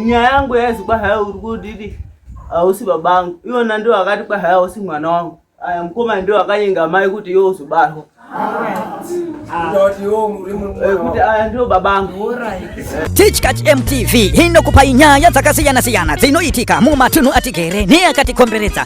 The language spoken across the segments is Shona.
Nyaya yangu yazi kwahaya uri kudidi hausi baba angu. Iwona ndiwo akati kwahaya hausi mwana wangu. Aya mukoma ndiwo akanyenga mai kuti iwe uzobarwa. Tichkach MTV inokupai nyaya dzakasiyana-siyana dzinoitika mumatunhu atigere neakatikomberedza.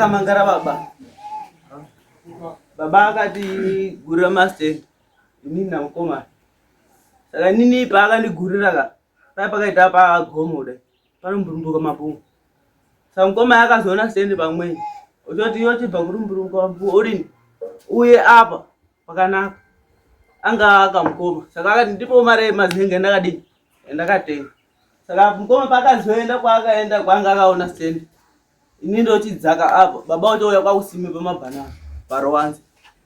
akamangara baba baba akatigurira mastand inini namukomana saka inini paakandigurira ka pai pakaita pagomo kudai panomburumbuka mapungu samukoma yakazoona send pamweni uchoti iyo chibva kurumburuka orini uye apa pakanaka anga akamukoma saka akati ndipo mari mazenge ndakadii ndakatenga saka mukoma paakazoenda kwaakaenda kwaanga akaona send ini ndochidzaka apo baba uchouya kwakusime pamabhanana parowanza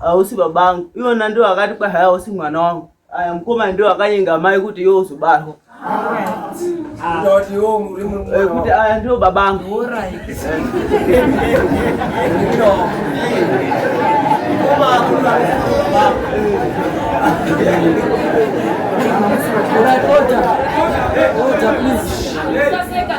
Hausi baba angu. Iwona ndiwo akati kwa haya hausi mwana wangu. Aya mukoma ndiwo akanyenga mai kuti iwe uzobarwa. Eh, kuti aya ndiwo baba angu. Order, order, please.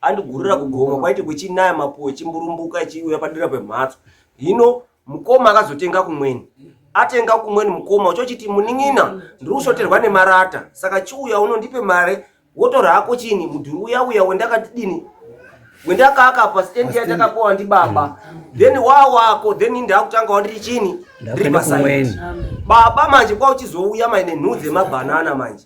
andigurira kugomo kwaiti kuchinaya mapuwe chimburumbuka ichiuya padira pemhatso hino mukoma akazotenga kumweni atenga kumweni mukoma uchochiti munin'ina ndiri kushoterwa nemarata saka chiuya uno ndipe mare wotora hako chini mudhuri uya uya wendakatidini wendakaka pastendi yandakapowa ndi baba then wa wako then ndakutanga wandiri chini ndiri pasaidi baba manje kwauchizouya maine nhuu dzemabhanana manje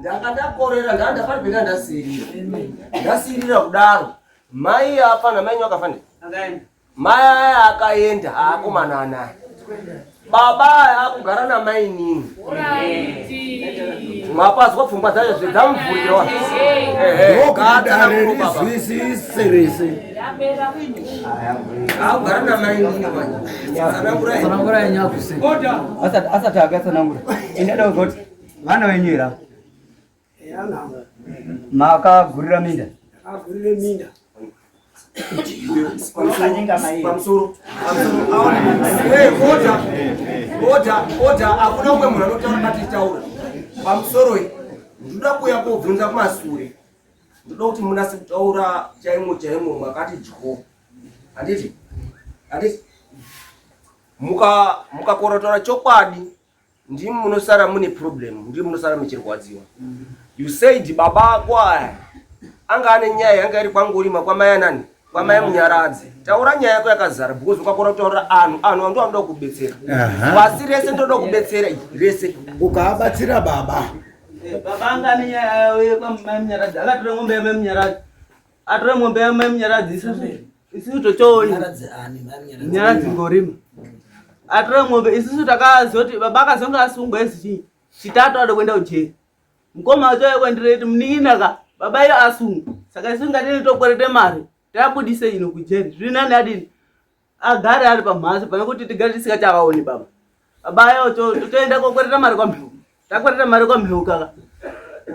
ndakadakorera ndaa ndakapenga ndasirira ndasirira kudaro mai afa namainyu akafanira mai aya akaenda aakomana anaye Baba akugara namainini mapazwa pfungwa dzacho zvedzamuvhurira ndokudarerizwisise rese akugara namainini tsanangura yenyu akuse asati akatsanangura ini adauza kuti vana venyu ira makagurira minda agurire minda hakuna umwe munhu anotaura matitaura pamusoro iyi ndoda kuuya kobvunza kumasure ndoda kuti munase kutaura chaimo chaimo makati dyo handiti handiti mukakorotora chokwadi ndimi munosara mune problem ndimi munosara muchirwadziwa you said baba ako aya anga ane nyaya yanga iri kwangorima kwamai anani kwamai munyaradzi taura nyaya yako yakazara because ukakona kutaurira anhu anhu ando anoda kukubetsera pasi rese ndoda kubetsera rese ukaabatsira baba baba anga ane nyaya yavo yekwamai munyaradzi akatora ngombe yamai munyaradzi Atora mombe ya mai Munyaradzi isusu. Isusu tochoona. Munyaradzi ani mai Munyaradzi. Munyaradzi ngorima. Atora mombe isusu takazoti baba akazonga asungwa isi chitatu ado kwenda ujeri. Mkoma wacho yekwendireti munin'ina ka baba iyo asungwa. Saka isu ngatini tokwerete mari. Tabudise ino kujeri. Zvinani adini? agare ari pamhatso pane kuti tigare tisingachavaoni baba baba ayo totoenda kokwereta mari kwamheu takwereta mari kwamheu kaka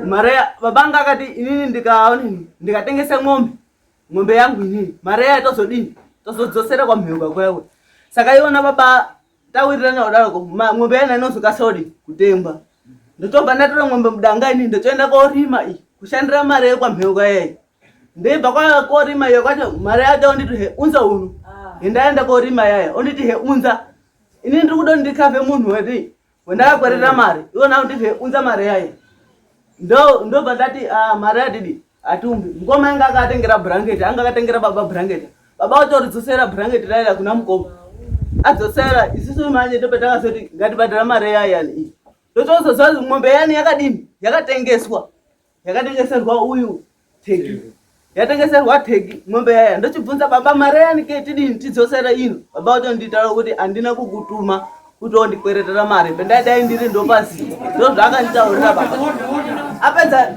mari baba anga akati inini ndikaonini ndikatengesa ng'ombe ng'ombe yangu inini mari yayo tozodini tozodzosera kwamheu kakwewe saka iona baba tawirirana kudaroko ng'ombe yana inozokasa kudini kutengwa ndotobva ndatora ng'ombe mudanga inini ndotoenda korima iyi kushandira mari yekwamheu kayeyo Ndebva kwaya korima iyo kwacho mari yake onditi he unza uno. Ah. Ndaenda korima yaya onditi he unza. Ini ndiri kudo ndikave munhu wati wendakakwerera mm. mari. Iwo na onditi he unza mari yaya. Ndo ndobva ndati ah mari yadidi atumbi. Mkoma anga akatengera blanket, anga akatengera baba blanket. Baba otoridzosera blanket raya kuna mkoma. Adzosera isisu manje ndopetakazoti ngatibhadhara mari yaya iyi. Ndotozoziva mombe yani yakadini yakatengeswa. yakatengeserwa uyu teki yatengeserwa teki mombe yaya ndochibvunza baba mari yanike tidini tidzosera ino baba otonditaura kuti handina kukutuma kuti ondikweretera mari pendaidai ndiri ndopasi ndozvaakanditaurira baba apedza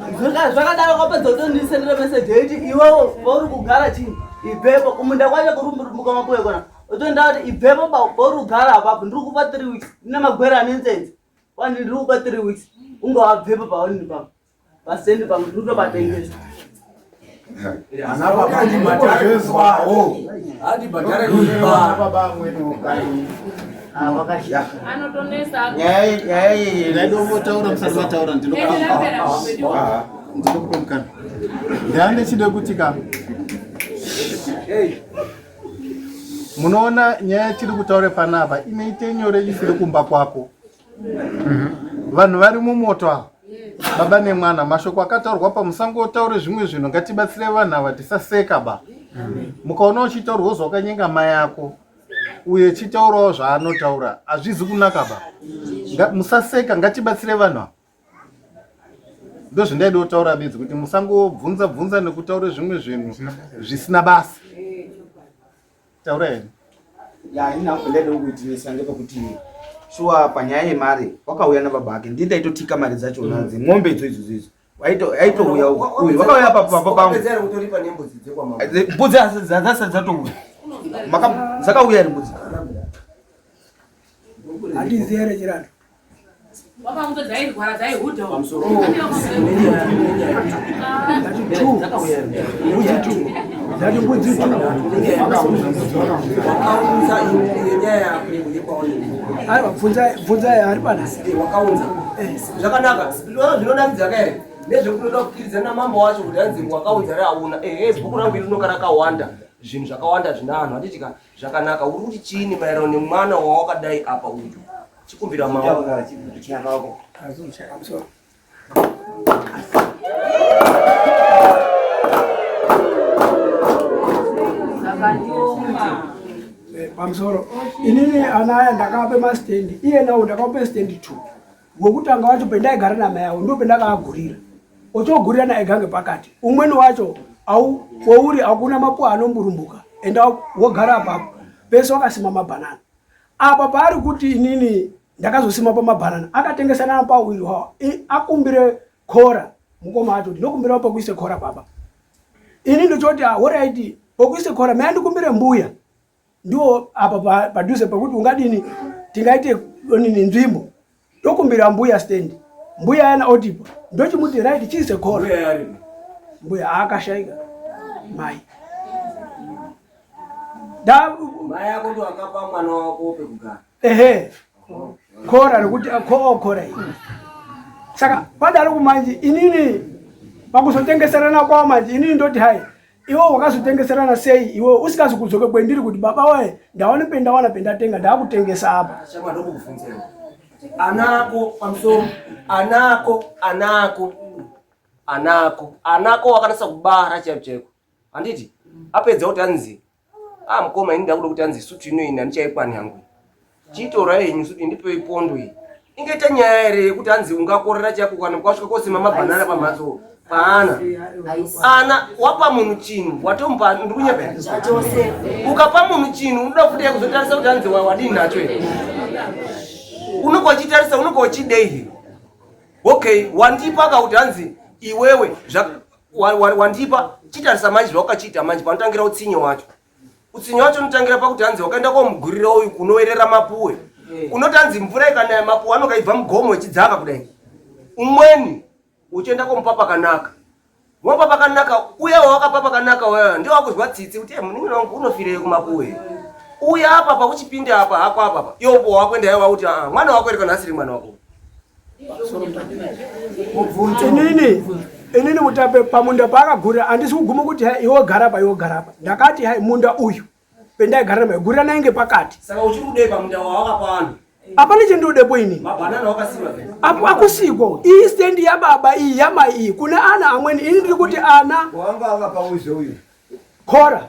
zvakadaro kwapedza kutondisendera meseji yeiti iwewo vauri kugara chii ibvepo kumunda kwacho kurumbuka mapuwe kona otonda kuti ibvepo pauri kugara apapo ndiri kupa three weeks ndine magwere anenzenzi Kwani ndiri kupa three weeks unge wabvepo paonini pako paseni pamwe ndiri kutobatengesa anotonesaaidomotaura musati vataura ndinokutomukana ndandechide kuti ka munoona nyaya yatiri kutaura panapa inoite nyore isiri kumba kwako mhm. vanhu vari mumoto ava baba nemwana mashoko akataurwa pamusango otaure zvimwe zvinhu ngatibatsire vanhu ava tisaseka ba mhm. mukaona uchitaurwa wozva wakanyenga mai yako uye chitaurawo zvaanotaura hazvizi kunaka ba musaseka ngatibatsire vanhu ava ndozvindaida kutaura bedzi kuti musangobvunza bvunza nekutaura zvimwe zvinhu zvisina basa taura here ya ina ndaida kuitirisa ndepekuti shuwa panyaya yemari wakauya nababa ake ndii ndaitotika mari dzacho mm. nadzi mombe idzo idzodzo idzo aitouya uyu wakauya papapa pangu mbudzi dzasa dzatouya dzakauya ri mbudzi handiziere chirando bvunzai ari panazvakaunza zvakanaka zvinonakidza kaere nezvekunoda kukiridza namambo wacho kuti anzi wakaunza re auna ehe bhuku rangu iri rinonga rakawanda zvinhu zvakawanda zvina anhu handiti ka zvakanaka uri kuti chiini maererano nemwana wawakadai apa uyu Chikumbira maoko. Chikumbira maoko. pamusoro inini ana aya ndakaape mastendi iye nawo ndakape stendi two wekutanga wacho pendaigara namai avo ndo pendakaagurira ochogurira naye gange pakati umweni wacho au kwouri hakuna mapuwa anomburumbuka enda wogara apapo pese wakasima mabhanana apa paari kuti inini ndakazosima pamabhanana akatengesa nana pawiri wawa akumbire kora mukoma atoti ndinokumbira pokuise kora baba ini ndochoti ahoraiti ah, pokuise kora mai ndikumbire mbuya ndiwo apa padhuze pekuti ungadini tingaite nini nzvimbo ndokumbira mbuya stand mbuya yana odipo ndochimuti right chii sekoro mbuya aakashaika mai ehe kora rekuti kookora oh, iyi saka padaro kumanje inini pakuzotengeserana kwao manje inini ndoti hai iwe wakazvitengeserana sei iwe usikazi kudzoke kwendiri kuti baba waye ndaone pendawana pendatenga ndaakutengesa apa anako pamusoro anako anako anako anako wakanasa kubara chaiko chaiko handiti apedza kuti anzi a ah, mukoma ini ndakuda kuti anzi sutu ino ini handichaikwani hangu Chiitora henyu kuti ndipei pondo iyi. Ingaita nyaya here yekuti hanzi ungakorera chako kana kwasvika kosima mabhanana pamhatso paana ana wapa munhu chinhu watomupa ndikunyeba ukapa munhu chinhu unoda kufuti yakuzotarisa kuti hanzi wadii nacho here unobva uchitarisa unobva uchidei here okay wandipa ka kuti hanzi iwewe wandipa chitarisa manje zvawakachiita manje panotangira utsinye wacho utsinye wacho unotangira pakuti hanzi wakaenda komugurira uyu kunoerera mapuwe eh. unoti hanzi mvura ikanaya mapuwe anokaibva mugomo ichidzaka kudai umweni uchienda komupa pakanaka wopa pakanaka uya wawakapa pakanaka waya ndio wakuzwa tsitsi kuti eh, muningi wangu unofirei kumapuwe uya apa pakuchipinda apa hako apapa yopo wakuenda yawa kuti ah, mwana wako iri kana asiri mwana wako inini inini mutape pamunda paakagurira handisi kuguma kuti hai iwe gara pa iwe gara pa ndakati hai munda uyu pendaigarira mai gurira nainge pakati saka uchiri kudei pamunda wawakapa vanhu hapana chendinodepo ini apo akusiko iyi stendi yababa iyi yamai iyi kune ana amweni ini ndiri kuti ana khora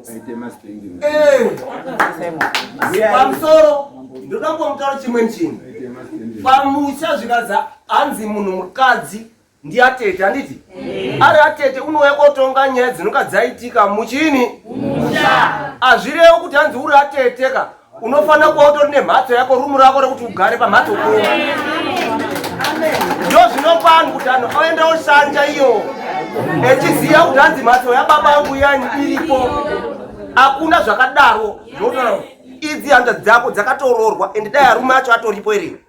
Eh! pamusoro ndoda kuamutaura chimweni chinhu pamusha zvikanza hanzi munhu mukadzi ndiatete handiti eh. ari atete unouya kotonga nyaya dzinonga dzaitika muchini hazvirewo kuti hanzi uri atete ka unofanira kuva utori nemhatso yako rumu rako rekuti ugare pamhatso ko ndo zvinopano kuti anhu aenda oshanja iyo echiziva kuti hanzi mhatso yababa yangu yani iripo hakuna zvakadaro idzi handa dzako dzakatoroorwa and dai arume acho atoripo ere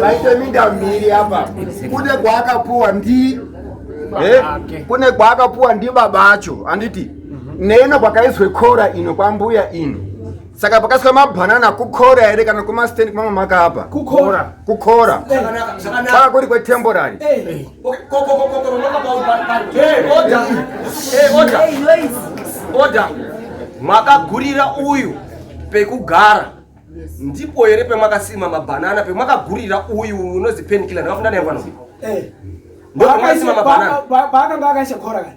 vaite minda miri apa kune kwaakapuwa ndi eh, kune kwaakapuwa ndi baba acho handiti neino kwakaiswe kora ino kwambuya ino saka pakasika mabhanana kukora here kana kumastendi kwamamaka apa kukora kukora saka kuri kwetemporary eh. oda makagurira uyu pekugara ndipo here pemakasima mabhanana pemakagurira uyu unozi penikila ndakafunda naye mwana uyu eh. ndomaisima mabhanana paakanga akaisha kora kani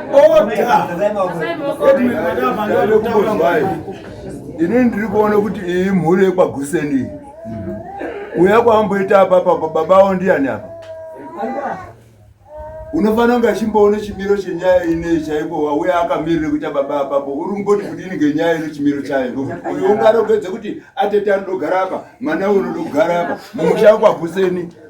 ini ndiri kuona kuti iyi mhuri yekwaguseni uya kwamboita apapa baba avo ndiyani apa unofanira kunge achimboona chimiro chenyaya inei chaipo wauya akamirire kuita baba apapo uri kumboti kudini ngenyaya ino chimiro chayo uyo ungarogedze kuti atete anodogara apa mwana uyo unodogara apa mumusha kwakuseni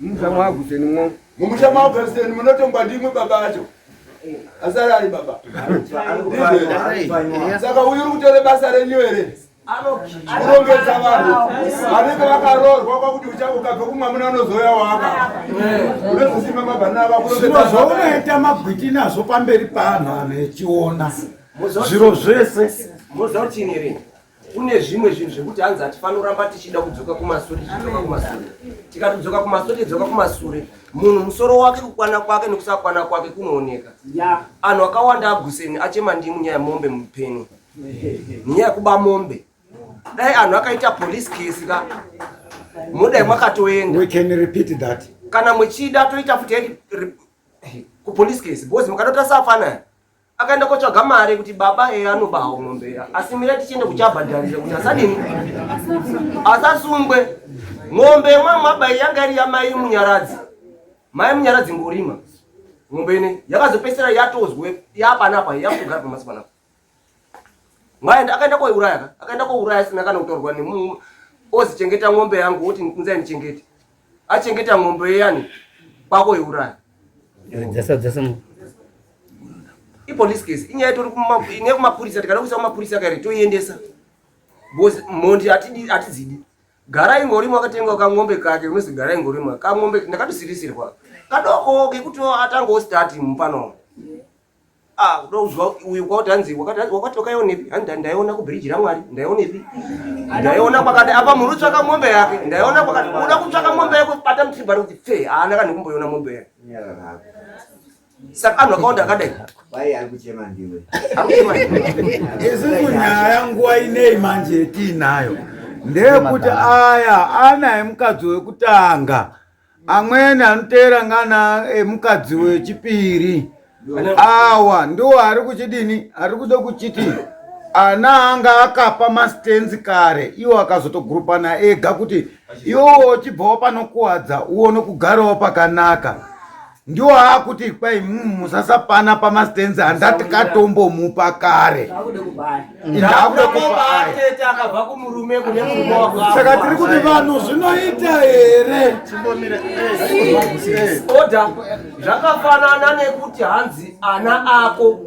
Mumusha mwaGusenimwo. Mumusha mwaGuseni munotongwa ndimwe baba acho. Asara ari baba. Saka uyu uri kutore basa renyu here? Kurongedza vanhu vanenge vakaroorwa kwakuti uchange ukabve kumwamuna unozouya waka. Unozosimba mabhanana ava kurongedza. Zvaunoita magwiti nazvo pamberi paanhu anhu echiona zviro zvese. Mozoti niri. kune zvimwe zvinhu zvekuti hanzi hatifanoramba tichida kudzoka kumasure tichidzoka kumasure tikatidzoka kumasure tidzoka kumasure munhu musoro wake kukwana kwake nekusakwana kwake kunooneka anhu akawanda aguseni achema ndimu nyaya yemombe mupeni nyaya yekuba mombe dai anhu akaita police case ka mudai mwakatoenda kana muchida toita futi kupolice case because mukadota safanaya akaenda kotsvaga mari kuti baba eya anobawo mombe eya asi mira tichienda kuchabhadharira kuti asadini asasungwe mombe yemwamwabai yanga iri yamai munyaradzi mai munyaradzi ngorima mombe ine yakazopesera yatozwe yapanapa yakugara pamasi panapa mwaenda akaenda koiuraya akaenda kouraya sina kana kutorwa nemu ozichengeta mombe yangu woti nzai ndichengete achengeta mombe yeyani kwako yeuraya ipolice case inyaya itori ine kumapurisa tikada kuisa kumapurisa kare toiendesa bcause mhondi hatidzidi gara ingorimo akatenga kangombe kake unozi gara ingorimo kangombe ndakatosirisirwa kadoko kekuti atangawo stati mupano Ah, kuda kuzwa uyu kwauti hanzi wakati wakaionepi hanzi ndaiona kubiriji ramwari ndaionepi ndaiona kwakati apa mhuri tsvaka mombe yake ndaiona kwakati uda kutsvaka mombe yako bata mutribhari kuti fe haana kana kumboiona mombe yake saka anhu akawanda akadai isisu nyaya nguva inei manje tiinayo ndeyekuti aya anaye mukadzi wekutanga amweni anoteera ngana emukadzi wechipiri awa ndiwo ari kuchidini ari kuda kuchiti ana anga akapa mastenzi kare iwo akazotogurupana ega kuti iwowo uchibvawo panokuwadza uone kugarawo pakanaka ndiwo aakuti kwai mm, musasapana pamastenzi handati katombomupa kare saka tiri kuti vanhu zvinoita here eh, eh. oda zvakafanana nekuti hanzi ana ako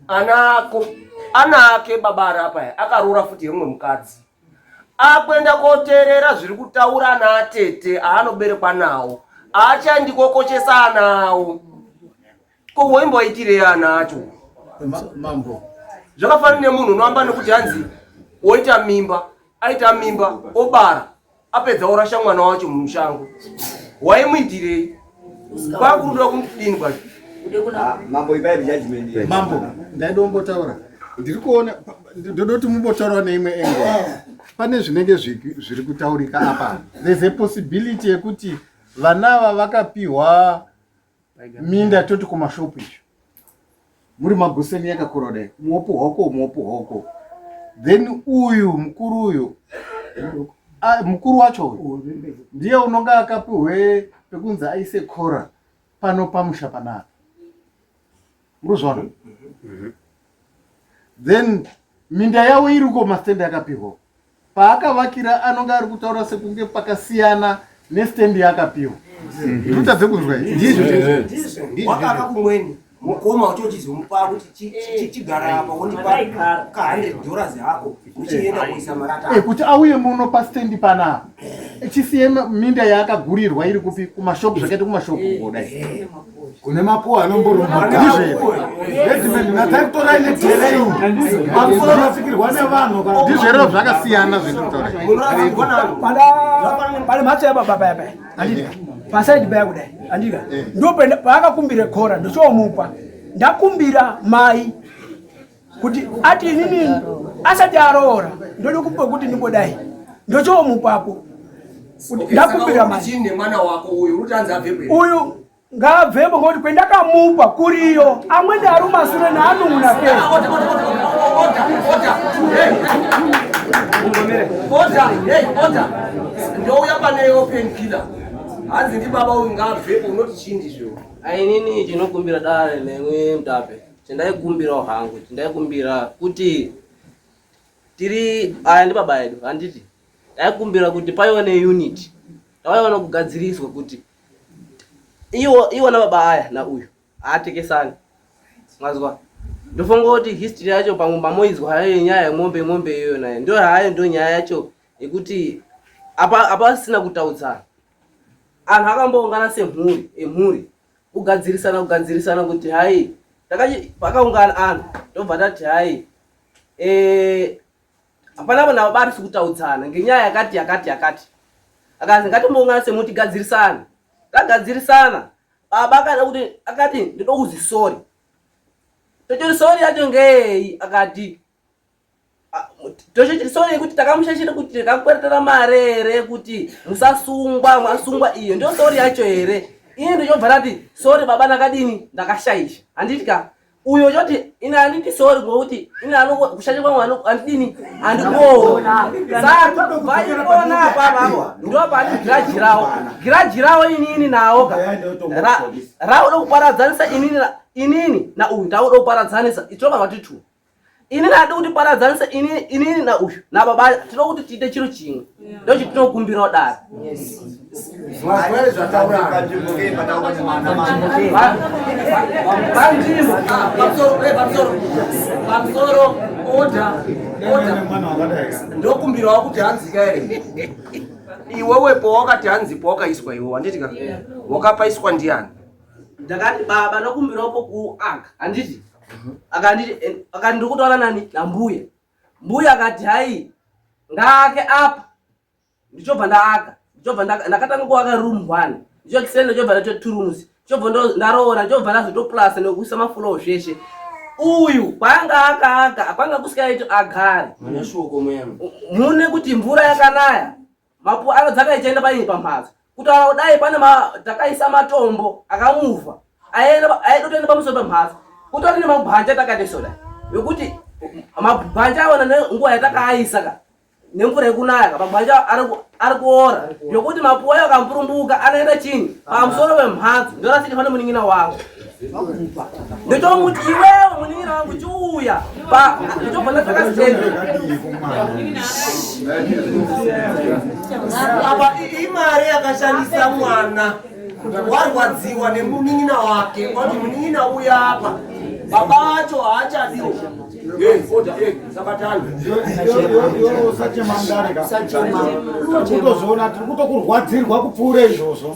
ana ako ana ake baba arapa akarora futi yemumwe mukadzi akuenda koteerera zviri kutaura naatete aanoberekwa nawo aachaendi kokoshesa ana awo ko woimboitirei ana acho mambo zvakafanana nemunhu unoamba nekuti hanzi woita mimba aita mimba obara apedza orasha mwana wacho mumushango waimuitirei kwakuda kudini kwacho ah, mambo ipai rejudgment mambo ndaida kumbotaura ndiri kuona ndoda kuti mumbotaura neimwe engo pane zvinenge zviri kutaurika apa there's a possibility yekuti vana ava vakapiwa minda toti kumashopu izvo muri maguseni yakakura kudai muopo hwako muopo hwako then uyu mukuru uyu ah, mukuru wacho uyu ndiye unonga akapihwe pekunzi aise kora pano pamusha panapa muruzvaona then minda yavo iriko mastende yakapihwa paakavakira anonge ari kutaura sekunge pakasiyana nestand yaakapiwa tutadze kunzwa ndizwowakaka kumweni mukoma uchochizomupa kuti chigara apa wondipa ka100 dollars hako uchienda kuisa marata eh, kuti auye muno pastand panapa eh, chisiye minda yaakagurirwa iri kupi kumashopu zvakaita kumashopu eh, kodai kune mapuwa anomborumba nataitorai neterei pamusoro masikirwa nevanhu ndizverero zvakasiyana zvenditaurapane mhatso yababa paya paya andika pasaidi paya kudai andika eh. ndo paakakumbira kora ndochoomupa ndakumbira mai kuti ati inini asati aroora ndoda kupa kuti ndingodai ndochoomupapo ndakumbira mwana wako uyu uruti anzi abvepo uyu ngaabvepo ngokuti kwendakamupa kuriyo amweni ari umasure naanun'una ke ndouya pane iwo penkiller hanzi ndibaba uyu ngaabvepo unoti chindi zvo ainini chinokumbira dare nemwi mutape Chandaikumbirawo hangu chandaikumbira kuti tiri aya ndi baba edu handiti ndaikumbira kuti paiwa ne unit tawaiwa nokugadziriswa kuti iwo iwo na baba aya na uyu haatekesani mazwa ndofunga kuti history yacho pamwe mamoizwa hayo yenyaya yemombe mombe iyoyo nayo ndo hayo ndo nyaya yacho yekuti apa apasina kutaudzana anhu akamboungana semhuri emhuri kugadzirisana kugadzirisana kuti hai takachi pakaungana anhu tobva tati hai eh, hapana e, vanhu ava barisi kutaudzana ngenyaya yakati yakati yakati akanzi ngatimboungana semuti gadzirisana tagadzirisana baba akada kuti akati ndinokuzi sori tochori sori yacho ngei akati toshesore kuti takamushashira kuti takakweretera mari here kuti musasungwa mwasungwa iyo ndio sori yacho here ini ndichobva ndati sori baba ndakadini ndakashaisha handiti ka uyo choti ini handiti sori ngokuti ini kushaisha kwangu handidini handikuona saka vaikuona apapavo ndo pani giraji ravo giraji ravo inini nawo ka rauda kuparadzanisa inini inini na uyu ndauda kuparadzanisa itirova vati two ini ndadi kuti paradzanise ini ini na uyu na baba tinoda kuti tiite chiro chimwe ndo chiti tinokumbira kudaro pamusoro oda oda ndokumbirawo kuti hanzika here iwewe pawakati hanzi pawakaiswa iwe wanditi ka wakapaiswa ndiani ndakati baba nokumbirawo pokuaka handiti mhm. akanditi eh, akati ndiri kutaura nani nambuya mbuya akati hai ngaake apa ndichobva ndaaka ndichobva ndakatanga kuaka room one ndichokiseni ndichobva ndato two rooms ndichobva ndaroora ndichobva ndazotoplasa nekuisa mafuloo zveshe uyu kwanga akaaka kwanga kusikaiti agare mune kuti mvura yakanaya Mapu ave dzaka ichaenda painyi pamhatso. Kutaura kudai pane ma takaisa matombo akamuvha. Aenda aida kutoenda pamusoro pamhatso. Kutori nemabhanja takati soda. Yokuti mabhanja awana nenguva yatakaisa ka. Nemvura yekunaya ka mabhanja ari kuora. Yokuti mapu ayo akamburumbuka anoenda chini pamusoro pemhatso. Ndorasika pane muningina wangu. ndotomuti iwewo munin'ina wangu chiuya pa ndotobva ndasaka stendo apa imari yakashandisa mwana warwadziwa nemunin'ina wake wati munin'ina uya apa baba acho haachadiwo usachemandarekutozviona tiri kutokurwadzirwa kupfuura izvozvo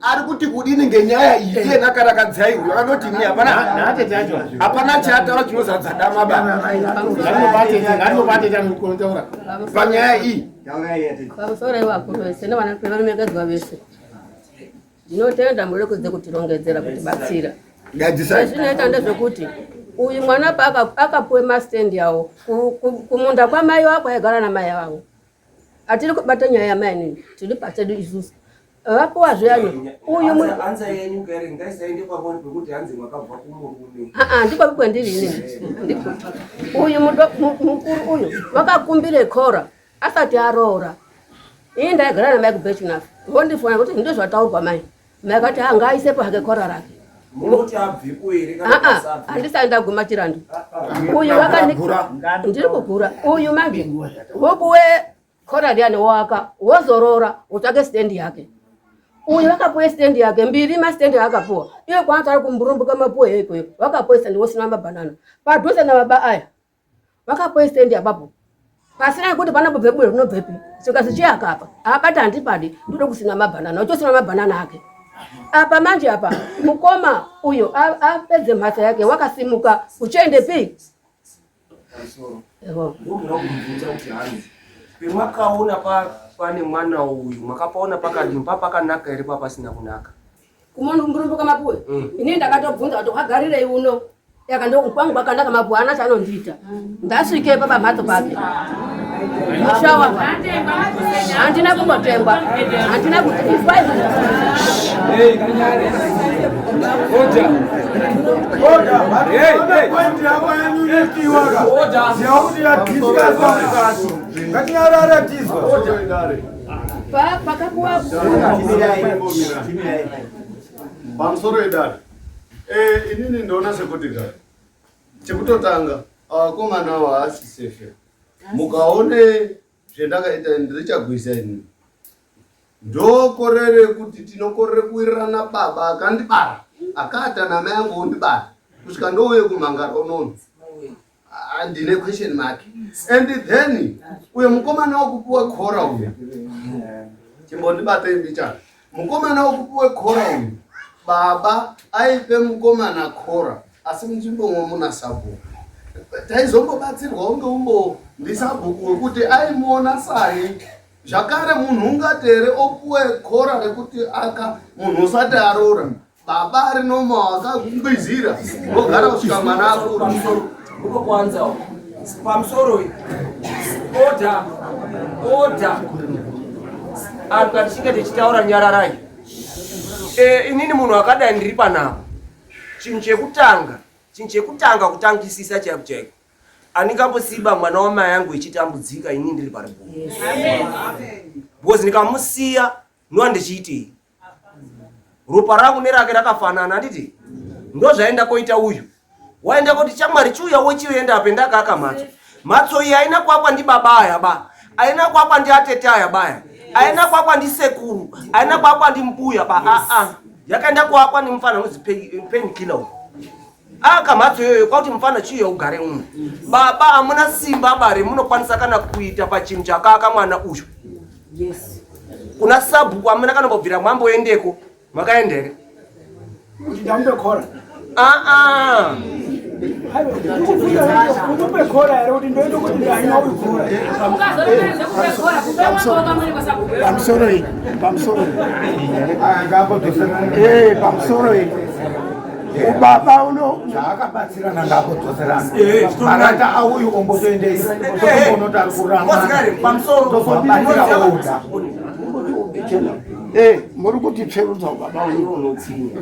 ari kuti kudini ngenyaya iyi iye nakarakadziai uyo anoti ini hapana hapana chaataura chinozadza dama baanobatetaanobatetaanokontaura panyaya iyi pamusoro ivakuru vese nevanakuvanomekedzwa vese ndinotenda murekodze kutirongedzera kuti batsira ezvinoita ndezvekuti uyu mwana paakapuwe mastendi awo kumunda kwamai wako aigara namai vavo Atiri kubata nyaya yamainini tiri pachedu isusu vapuwa zviyani uyu ndikwapi kwendiri ini uyu mukuru uyu vakakumbire kora asati aroora ini ndaigara namai kubechinafa vondifona kuti ndozvataurwa mai Mai vakati haa ngaaisepo hake kora rake. Munoti abvepo here kana ah, ah, kusabva? Aa handisati ndaguma chirandu. Ah, Uyu wakani ndiri kugura. Uyu manje wokuwe kora riyani woaka wozorora wotsvake stand yake. Uyu wakapuwe stand yake mbiri mastand aakapuwa. Iye kwaanoti ari kumburumbuka mapuwe heko heko. Wakapuwe stand wosina mabanana. Padhuze na baba aya. vakapoistendi apapo pasina kuti panapo bvebuwe rinobvepi saka zichiyaka apa abata handipadi ndode kusina mabhanana uchosima mabhanana ake apa manje apa mukoma uyo apedze mhatsa yake wakasimuka uchiende pi pemakaona pane mwana uyu makapaona pakadini papakanaka here papasina kunaka kumurumbuka mapuwe mm. ini ndakatobvunza kuti wagarirei uno yaka ndokwangu kwakandaka mapuwe ana chanondiita mm. ndasvike papa mhatso pake mushawa handina kumbotengwa handina kuti pamusoro edare eh, inini ndoona sekuti ka chekutotanga akomana awo haasi sefe mukaone zvendakaita ndirichagwisa inini ndokorere kuti tinokorere kuwirirana baba akandibara akaata namai angu ondibara kusvika ndouye kumhangara unono Ah, ndine question mark and then uyo mukomana wekupiwa khora uyo chimbondibata imbicha mukomana wekupiwa khora uyo baba aipe mukomana khora asi munzvimbomwo muna sabhuku taizombobatsirwa unge umbo ndisabhuku wekuti aimuona sai zvakare munhu ungatere opuwe khora rekuti aka munhu usati aroora Baba ari normal akakungwizira ogara kusvika mwana akura. Uko kwanza pamusoro order order anhu katichinge tichitaura nyararai eh, inini munhu akadai ndiri panapa chinhu chekutanga chinhu chekutanga kutangisisa chaiko chaiko andingambosiba mwana wamai yangu ichitambudzika ini ndiri pari bhozi ndikamusiya ndoa ndichiitei ropa rangu nerake rakafanana handiti ndozvaenda koita uyu waenda koti chamwari chiuya wochienda ape ndakaaka mhatso mhatso iyi haina kuakwa ndibaba aya ba haina kuakwa ndiatete aya baya haina kuakwa ndisekuru haina kuakwa ndimbuya ba aa yakaenda kuakwa nemufana unonzi penkiller uyu Ah, kamhatso iyoyo kwakuti mufana chiuya ugare uno baba hamuna simba bare munokwanisa kana kuita pachinhu chakaaka mwana uyu yes. kuna sabhuku hamuna kana kubvira mwamboendeko makaenda here kuti ndamubekora aa ndikubekora here kuti ndoende kuti ndaina uyu kora pamusoro iyi pamusoro iyi pamusoro iyi ubaba uno chaakabatsirana ngako dzoserana eh, marata auyu ombotoendeisa onotari kuramaoabatsira oda eh, muri kuti tsverudza ubaba uyu unotsinga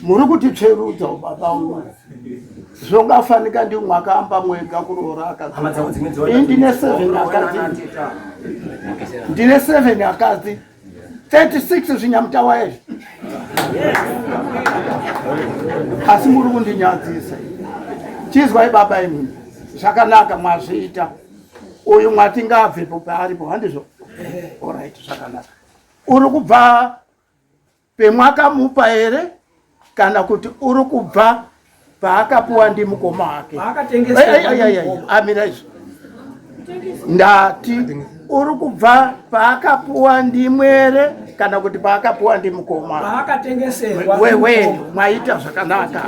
muri kuti tsverudza ubaba uyu zvongafanika ndi mwakaamba mwega kuroora akadzi ndine seven akadzi ndine seven akadzi 36 zvinyamutawa izvi asi muri kundinyadzisa chizwai baba imimi zvakanaka mwazviita uyu mwati ngaabvepo paaripo handizvo orit zvakanaka uri kubva pemwakamupa here kana kuti uri kubva paakapuwa ndi mukoma wake amira izvo ndati uri kubva paakapuwa ndimwere kana kuti paakapuwa ndi mukoma wewe mwaita zvakanaka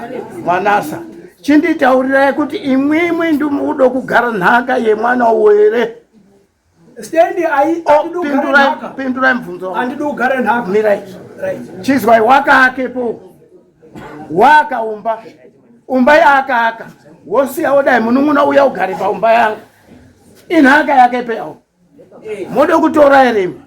mwanasa chinditaurirai kuti imwimwi ndimudo kugara nhaka yemwana uwo here Stendi ai oh, andidi kugara nhaka. Pindurai mubvunzo. Andidi kugara nhaka. Mirai. Right. Chizwai wakakepo. Wakaumba. Umba yakaaka. Wosiya wodai munun'una uya ugare paumba yangu. Inhaka yake peyawo. Mode kutora ere imba.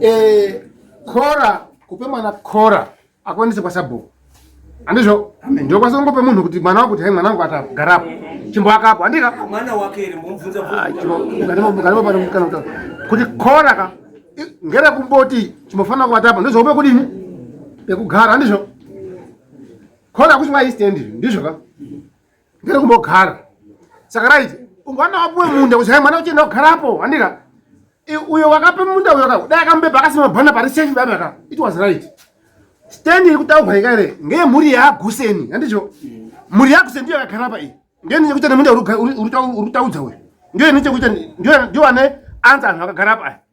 Eh, kora kupe mwana kora akwanise kwasabhuku andizvo ndokwanisa kungopa munhu kuti mwana wangu kuti hai mwana wangu atagarapo chimboakapo andika kuti kora ka ngere kumboti chimbofanira kuvatapa ndozvaupe kudini pekugara andizvo kora kuchimwa istendi ndizvo ka ndiri kumbogara saka right ungwana wapuwe munda kuchaya mwana uchienda kugarapo handika uyo wakape munda uyo ka dai akamubeba akasima bhana pari safe baba ka it was right stand iri kutaurwa ika ere ngeye mhuri yaaguseni handicho mhuri yaaguseni ndiyo yakagara pa iyi ndiyo ine chekuita nemunda uri kutaudza uyo ndiyo ine chekuita ndiyo ane anza anhu akagara pa aya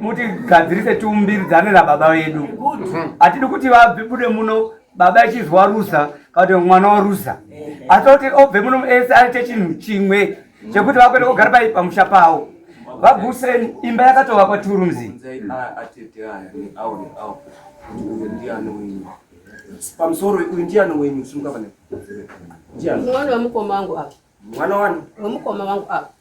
mutigadzirise tiumbiridzane nababa vedu hatidi kuti vabude muno baba echizwa waruza kana kuti mwana waruza asi kuti obve muno ese aite chinhu chimwe chekuti vakwete kugara pai pamusha pavo vaguseni imba yakatovakwa turumzi pamusoro uyu ndiani wenyu simukavane ndiani mwana wemukoma wangu apa mwana wani wemukoma wangu apa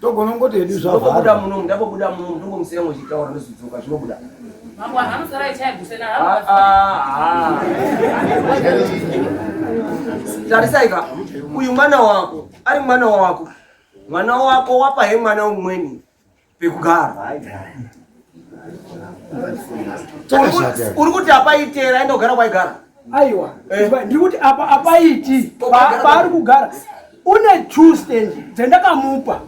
togonongoti hedu zvaobuda munomu ndabobuda munomu ndongomusiya ngochitaura ndozidzoka zvinobuda mambo anhu anosara ichaigusena ah, ah, ah. tarisaika uyu mwana wako ari mwana wako mwana wako wapa he mwana umweni pekugara uri kuti apaitera aenda kugara kwaigara aiwa eh. ndiri kuti apa apaiti paari kugara une two stand dzendakamupa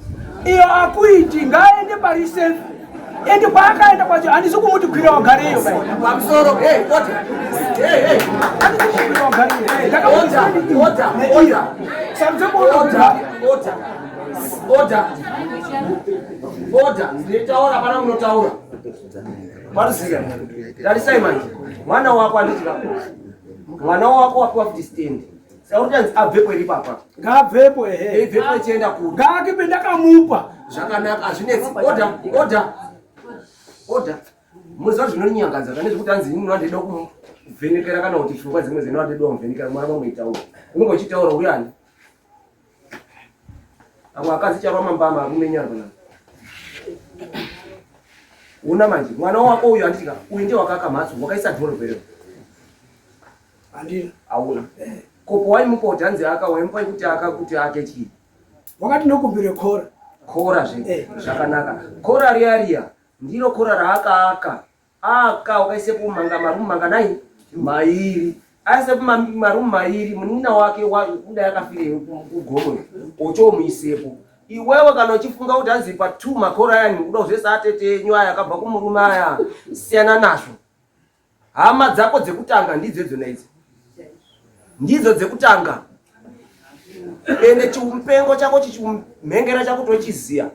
iyo akuiti ngaaende pari safe endi kwaakaenda kwacho handisi kumuti kwira wagareyo pamusoro ndakamuti kwira wagareyo Order, nditaura hapana munotaura. Marusika, tarisai manje, mwana wako anditi kapo. Mwana wako wapiwa kuti stand. Sautanzi abvepo iri papa. Ngaabvepo ehe. Ibvepo ichienda kuda. Ngaakipe ndakamupa. Zvakanaka, hazvinetsi. Order, order. Order. Muziva zvinonyangadza pane zvekuti anzi ini ndinoda ndida kuvhenekera kana kuti pfungwa dzimwe dzinoda ndinoda kuvhenekera mwana vamuitaura. Unenge uchitaura uyani. Avo akadzi chava mambama arume nyangwe na. Una manje mwana wako uyu andika uyu ndiye wakaka mhatso wakaisa dhoro vero. Andina auna. Kopo wai mukoti anzi aka waimupa kuti aka kuti ake chii. Wakati ndokumbire khora. Khora zve. Eh. Zvakanaka. Khora riya riya ndiro khora raaka aka. Aka wakaisepo manga marumu manga nai mairi aisepo marumu mairi munin'ina wake kuda yakafirei kugomo ochomuisepo iwewe kana uchifunga kuti hanzi pa two makora ayani kuda kuzvese atete enyu aya akabva kumurume aya siyana nazvo hama dzako dzekutanga ndidzo idzona idzi ndidzo dzekutanga ende chimupengo chako chichimhengera chako tochiziya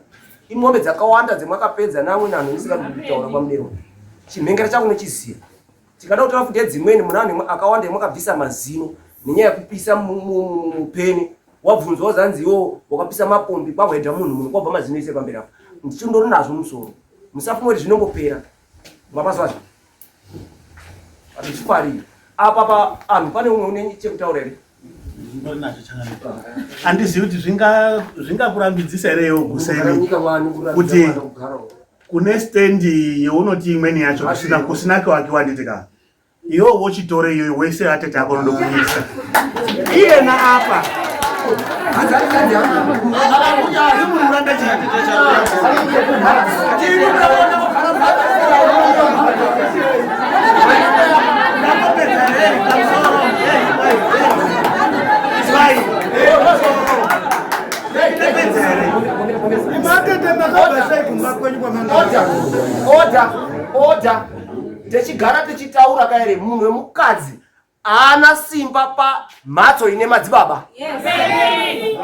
imombe dzakawanda dzemwakapedza namwe nanhu ndisikakutaura kwamudero chimhengera chako nochiziya tikada kutora futi edzimweni muna vanhu akawanda yemwakabvisa mazino nenyaya yekupisa mupeni wabvunzwa wazanzi iwo wakapisa mapombi kwahwedha munhu munhu kwabva mazino ise pamberi apo ndichindori nazvo musoro musafunga kuti zvinongopera Mabaswazi. Atichifarira. Apa pa anhu pane umwe une chekutaura here? handizivi kuti zvingakurambidzisa here iwo kuseni kuti kune stendi younoti imweni yacho kusina kuakiwa handiti ka Iwo wochitore iyoyo wese atete ako unoda kuisa iyena apa Order! Order! techigara tichitaura ka here munhu wemukadzi haana simba pamhatso ine madzibaba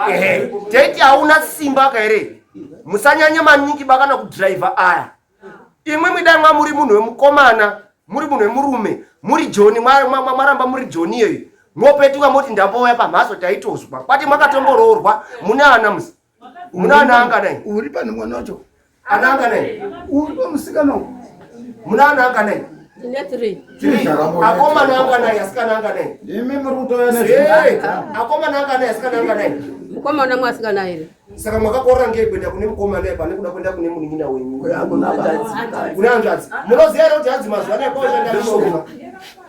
ehe teti hauna simba ka here musanyanya maningi ba kana kudhiraivha aya imwe mwidai mwa muri munhu wemukomana muri munhu wemurume muri joni mwaramba muri joni iyoyo mopetuka moti ndambouya pamhatso taitozwa kwati mwakatomboroorwa mune ana musi muna ana anganai uri pane mwana wacho ana anganai uri pamusikana uku muna ana anganai akomana anganai asikana anganai imi muri kutoya akomana anganai asikana anganai mukomana mwasikana here saka mwakakorora ngei kuenda kune mukomana iye pane kuda kuenda kune munin'ina wenyu kune hanzvadzi munoziva here kuti hanzi mazuva anaya kwaoshandaishoma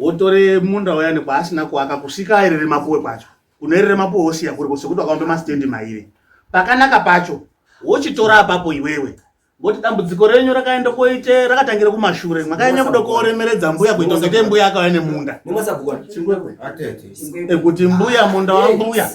wotore munda uyani kwaasina kuaka kusvika aerere mapuwe kwacho unoerere mapuwe wosiya kuri sekuti wakaumbe masitendi mairi pakanaka pacho wochitora apapo iwewe ngoti dambudziko renyu rakaenda koite rakatangira kumashure makanyanya kuda kuoremeredza mbuya kuita kunge mbuya akauya nemunda ekuti mbuya munda wambuya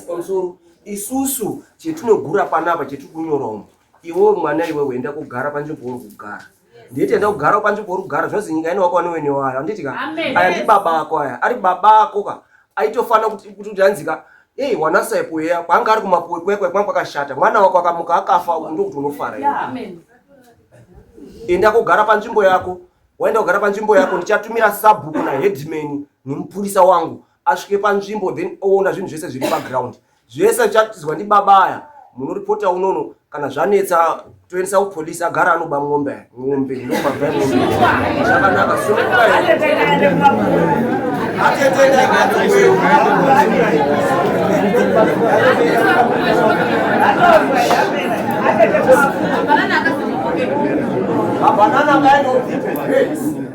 isusu chetinogura panapa chetiri kunyora umu iwewe mwana iwewe enda kugara panzvimbo uri kugara nditi enda kugara panzvimbo uri kugara zvozi nyika ine wako wani wene wayo anditi ka aya ndi baba ako aya ari baba ako ka aitofanira kuti kuti anzika ei wanasaipo yeya kwaanga ari kumapuwe kwekwe kwanga kwakashata mwana wako akamuka akafa uku ndokuti unofara enda kugara panzvimbo yako waenda kugara panzvimbo yako ndichatumira sabhuku naheadman nemupurisa wangu asvike panzvimbo then oona zvinhu zvese zviri paground zvese zvichatizwa ndibaba aya munoripota unono kana zvanetsa toendesa kupolisi agara anoba mombe mombe ndomabvaombeakanaka soaaaaaaa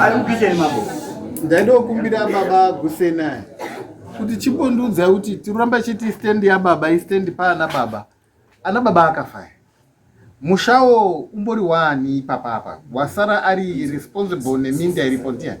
ari kupisheni mambo ndaindokumbira baba gusenai kuti chibondiudza kuti tiramba chiti stand yababa istand paana baba ana baba akafaya mushawo umbori wani ipapa apa wasara ari responsible neminda iripo ndiani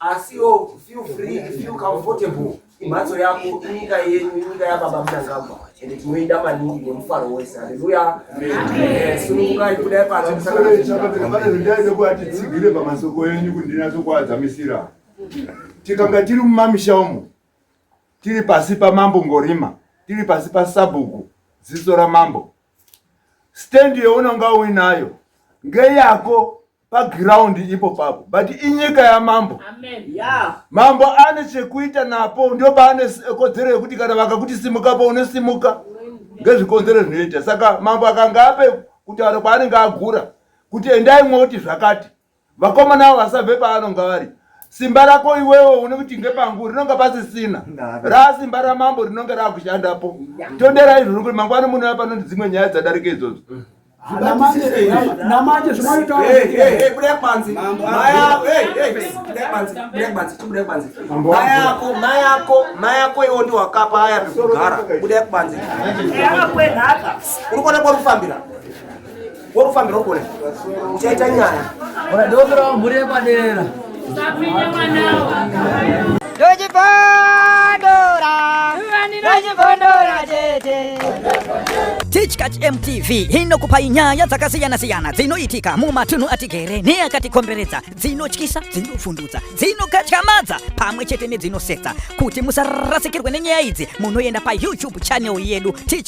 asiwo feel free feel comfortable imhatso yako inyika yenyu inyika yababa mnangagwa ende tinoida maningi nemufaro wese haleluya sunungukai kudai paanoaaidaida kuati tsigire pamasoko enyu kuti ndinatsokuadzamisira tikanga tiri mumamisha umo tiri pasi pamambo ngorima tiri pasi pasabhuku ziso ramambo stendi younonga uinayo ngeyako paground ipo papo but inyika yamambo mambo ane chekuita napo ndio paane kodzero yekuti kana vakakuti simuka po unosimuka ngezvikonzero zvinoita saka mambo akanga ape kutaura kwaanenge agura kuti endai mwoti zvakati vakomana avo vasabve paanonga vari simba rako iwewo une kuti ngepangu rinonga pasisina raa simba ramambo rinonge raakushandapo tonderai izvozvo kuti mangwana munouya panoti dzimwe nyaya dzadarika idzodzo mm. namanje zvinoitaamayako mayako mayako iwo ndi wakapa aya pekugara budai kubanzi uri kuona kwarufambira kwarufambira uri kuona uchaita nyaya Tichkach MTV inokupai nyaya dzakasiyana-siyana dzinoitika mumatunhu atigere neakatikomberedza dzinotyisa dzinofundudza dzinokatyamadza pamwe chete nedzinosetsa kuti musarasikirwe nenyaya idzi munoenda payoutube channel yedu Tichkach